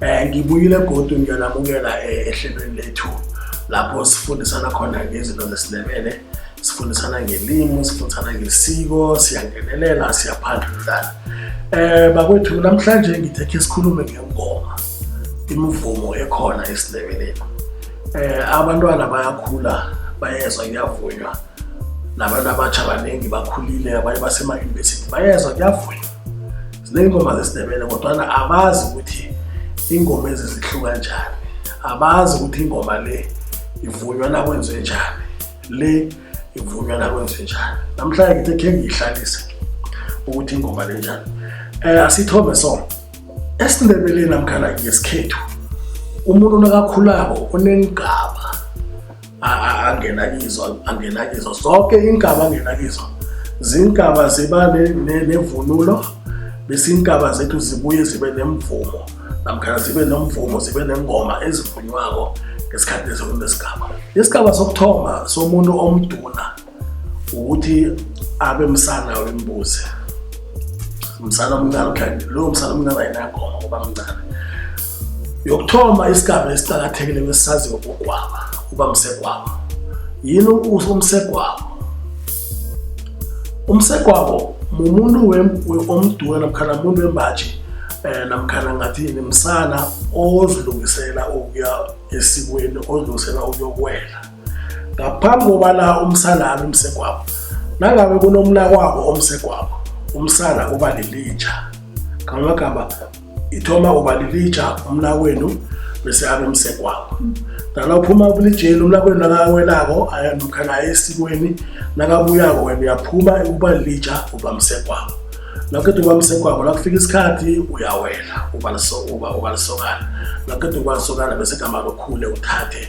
Um ngibuyile godu ngiyanamukela eh, ehlelweni lethu lapho sifundisana khona ngezinto zesiNdebele sifundisana ngelimi sifundisana ngesiko siyangenelela siyaphandlulana um eh, bakwethu namhlanje ngithekhe sikhulume ngengoma imivumo ekhona esiNdebeleni um abantwana bayakhula bayezwa kuyavunywa nabantu abatsha baningi bakhulile abanye basema-university bayezwa kuyavunywa Zineengoma zesiNdebele kodwana abazi ukuthi iingoma ezi zihluka njani. Abazi ukuthi ingoma le ivunywa nakwenziwe njani, le ivunywa nakwenziwe njani. Namhlanje ngithe khe ngiyihlalise ukuthi ingoma le njani. Um asithome so, esiNdebeleni namkhana ngesikhethu umuntu nakakhulako uneengaba angena kizo angena kizo zonke inkaba angena kizo zinkaba ziba nevunulo bese inkaba zethu zibuye zibe nemvumo namkhana zibe nomvumo zibe nengoma ezivunywako ngesikhathi leso kunesigaba isigaba sokuthoma somuntu omduna ukuthi abe msana wembuzi msana omncane ukhanye lowo msana omncane ayinagoma ngoba mncane yokuthoma isigaba esiqakathekile kwesisaziwe kugwaba uba msegwabo yini umsegwabo umsegwabo mumuntu omduwe namkhana muntu wembaji um eh, namkhana ngathini msana ozilungisela ukuya esikweni ozilungisela ukuyokwela ngaphambi kobana umsana abe umsegwabo nangabe kunomnakwabo omsegwabo umsana uba lilitsha ngamagama ithoma uba lilitsha umnakwenu bese abe umsegwabo nala uphuma kulitsheli umnakwenu nakawelako ayalukha naye esikweni nakabuyako wena uyaphuma uba lilitsha uba msegwabo nakuqeda uba msegwabo nakufika isikhathi uyawela uba lisokana nakuqeda uba lisokana bese gama lokhule uthathe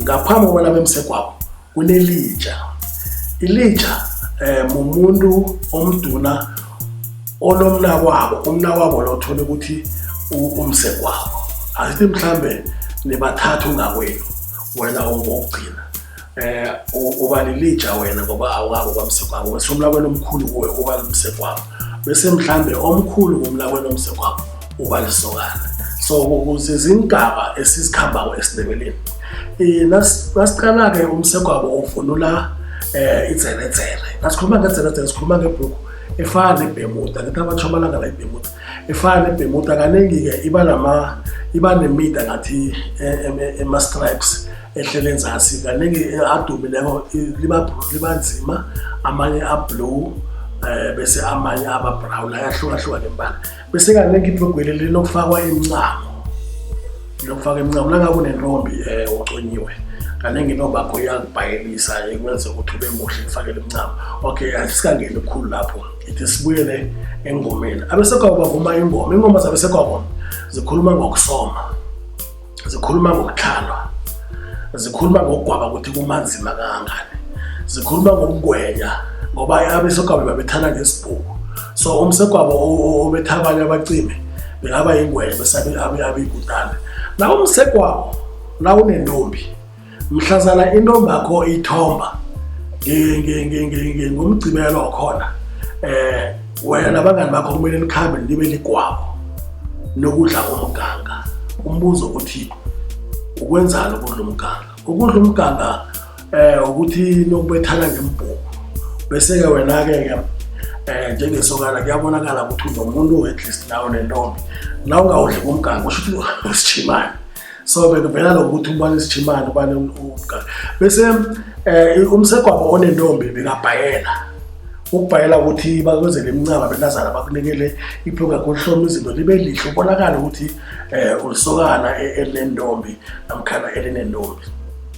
Ngaphambi kobana bemsegwabo kunelija. Ilija eh mumuntu omduna onomnakwabo, umnakwabo lo uthola ukuthi umsegwabo. Asithi mhlambe nibathathu ngakwenu wena ongokugcina. Eh uba lilija wena ngoba awukabo kwamsegwabo. Wesomlakwenu omkhulu kuwe uba umsegwabo. Bese mhlambe omkhulu kumlakwenu omsegwabo uba lisokana so ukuze zingaba esizikhambako esindebeleni eh, nasiqala-ke umsegwabo uvunula um idzeledzele nasikhuluma ngedzeledzele sikhuluma ngebhuku efana nebhemuda ngithi abantu amalanga la ibhemuda efana nebhemuda kaningi-ke iba nama iba nemida ngathi ema-stripes ehlele enzasi kaningi adumileko liba nzima amanye ablue um bese amanye aba-brown ayahlukahlukane mbala besekanengi iblogweli linokufakwa imncamo lokufaka imncamo nangabe unentombi um eh, uconyiwe kanengi intombi akho iyakubhayelisa ikwenze ukuthi ube muhle ifakele imncamo okay asikangeni khulu lapho ithi sibuyele engomeni abesekwabo bavuma ingoma ingoma zabesekwabo zikhuluma ngokusoma zikhuluma ngokutlhalwa zikhuluma ngokugwaba ukuthi kumanzima kangangani zikhuluma ngokugwenya ngoba abesegwabo babethana ngesibhuku so umsegwabo obetha abanye abacime bekaba yingwenya besabe abikutana nawo umsegwabo nawunentombi mhlazana intombakho ithomba ngomgcibelo okhona eh wena nabangani bakho kumele nikhambe nibe ligwabo nokudla komganga umbuzo ukuthi ukwenzani ukudla umganga ukudla umganga eh ukuthi nokubethana ngembhuku bese-ke wena-ke ke eh njengesokana kuyabonakala ukuthi unomuntu at least nawe nentombi la ungawudli kumganga usho ukuthi usijimane so bengivela lokuthi umbani sijimane ubani umgane bese eh umsegwabo onentombi bekabhayela ukubhayela ukuthi bakwenzele imincaba benazana bakunikele iphuka kuhloma izinto libe lihle ubonakala ukuthi eh ulisokana e-, elinentombi namkhana elinentombi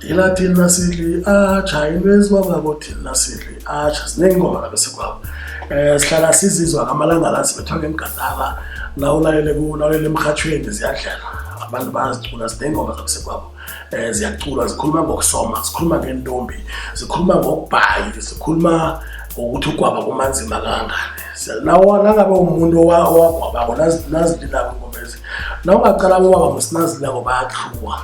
ila thina siliatsha into ezibabako thina siliatsha ziningi ingoma labe sikwabo um sihlala sizizwa ngamalanga la sibethwa ngemgadala nawulalele kunawulalele emrhatshweni ziyadlela abantu bazicula zinengoma zabe sikwabo um ziyacula zikhuluma ngokusoma zikhuluma ngentombi zikhuluma ngokubhayi zikhuluma ngokuthi ukwaba kumanzima kangani nangabe umuntu owagwabako nazililako ingomezi nawungacala bobaba musinazililako bayathluwa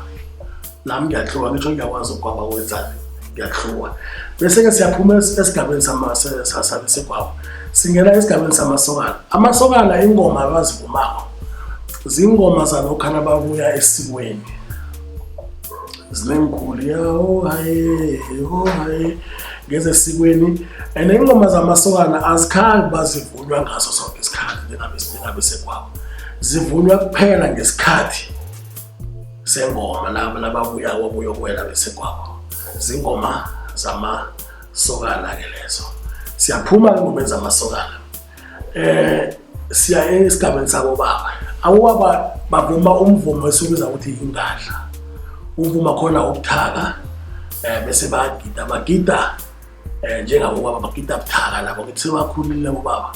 nami ngiyahlukwa ngisho ngiyakwazi ukwaba wenzani ngiyahlukwa bese-ke siyaphuma esigabeni sabe segwabo singena esigabeni samasokana amasokana ingoma abazivumako zingoma zalokhana babuya esikweni zinengikhulu yaho haye ho haye ngezesikweni and ingoma zamasokana azikhambi bazivulwa ngaso sonke isikhathi njengabe sekwabo zivunywa kuphela ngesikhathi sengoma laba nababuya wabuya kuwela besegwabo zingoma zamasokana-ke lezo siyaphuma engomeni zamasokana eh siya esigabeni sakobaba awubaba bavuma umvumo esiwubiza ukuthi yingadla uvuma khona ubuthaka eh bese bagida bagida eh njengabo baba bagida buthaka labo ngithi sebakhulile ubaba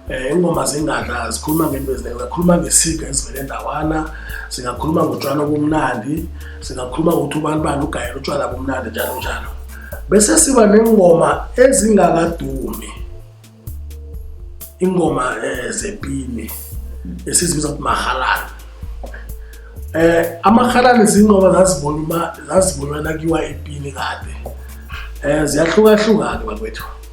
eh ingoma zingaka zikhuluma ngento eziningi zakhuluma ngesiga ezivele ndawana singakhuluma ngotshwala obumnandi singakhuluma ngokuthi ubani bani ugayela utshwala bomnandi njalo njalo bese siba nengoma ezingakadumi ingoma eh, zepini esizibiza ukuthi mahalani eh amahalani zingoma zazibonwa zazibonwa nakiwa epini kade eh ziyahlukahlukana bakwethu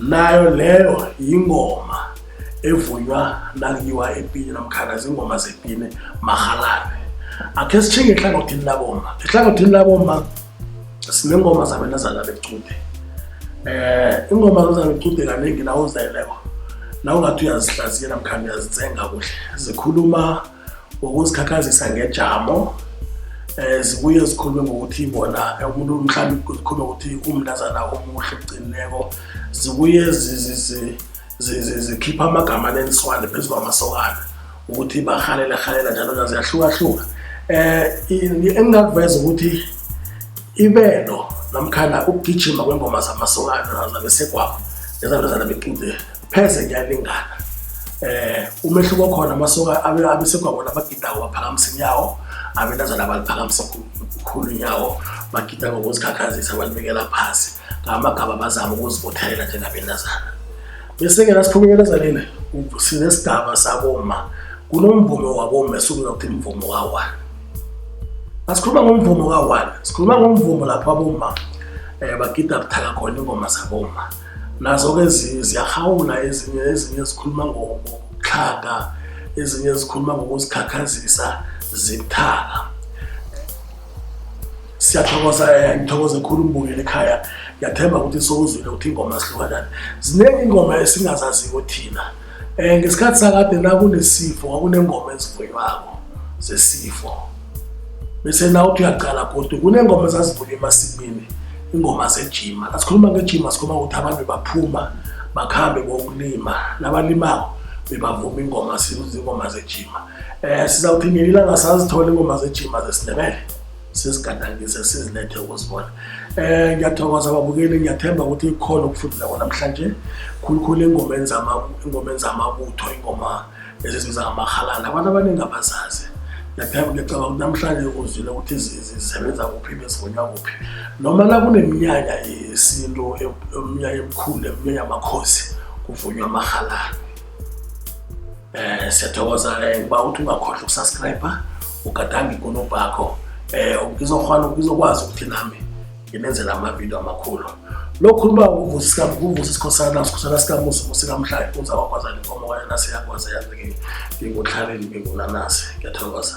nayo leyo yingoma evunywa nakuyiwa epini namkhana zingoma zepini marhalabe akhe sithinge ehlangothini labomma ehlangothini labomma sinengoma zabentazana becude eh ingoma zabentazana becude kaningi nawo uzeleko nawo ngathi uyazihlaziya namkhana uyazitsenga kuhle zikhuluma wokuzikhakhazisa ngejamo um zibuye zikhulume ngokuthi bona umuntu mhlawumbe zikhulume ngokuthi umntazana omuhle kugcinileko zibuye zikhipha amagama neniswane phezu kwamasokana ukuthi bahalela halela njalo njalo ziyahlukahluka um engingakuveza ukuthi ibelo namkhana ukugijima kwengoma zamasokana zabesegwabo nezabezana bequde pheze ngiyalingana eh umehluko khona amasuka abesegwabona abagidako baphakamisa inyawo abentazana baliphakamisa khulu inyawo bagida ngokuzikhakhazisa balibekela phasi ngamagaba bazama ukuzibothelela njengabentazana bese-ke nasiphumelelezanile sinesigaba saboma kunomvumo waboma esukuza ukuthi mvumo kawane asikhuluma ngomvumo kawane sikhuluma ngomvumo lapho aboma um eh, bagida buthaka khona ingoma zaboma nazo-ke ezinye ziyarhawula ezinye ezinye zikhuluma ngokuxhaga ezinye zikhuluma ngokuzikhakhazisa zithaka siyathokoza eh, ngithokoze khulu umbukeli ekhaya ngiyathemba ukuthi sowuzwile ukuthi ingoma zihlukanani ziningi ingoma esingazaziko thina um ngesikhathi sakade nakunesifo kwakunengoma ezivuywako zesifo bese nawuthi uyaqala godu kunengoma ezazivunywa emasimini ingoma zejima asikhuluma ngejima sikhuluma ukuthi abantu baphuma bakhambe kokulima nabalimako bebavuma ingoma sizingoma zejima um eh, sizawuthi ngelinanga sazithola ingoma zejima zesindebele sesigadangise sizilethe ukuzibona um ngiyathokoza babukeli ngiyathemba ukuthi ikhona ukufundileko namhlanje khulukhulu engomeni zamabutho ingoma ezizibiza ngamahalana abantu abaningi abazazi ngiyathemba ngiyacabanga ukuthi namhlanje uzile ukuthi zisebenza kuphi bezigonywa kuphi noma la kuneminyanya yesintu e-, eminyanya emikhulu eminyanya yamakhosi kuvunywa amahalana Eh siyathokoza eh, uba uthi ungakhohlwa ukusubscribe ugadange ikonobho yakho eh ngizokghona ngizokwazi ukuthi nami nginenzela amavidiyo amakhulu lokhu uba uvusa isikhosana sikhosana sikamusa musikamhlali uza wakwazana inkomo kwaye nasiyakwazi yazi-ke ngingutlhaleni ngingunanasi ngiyathokoza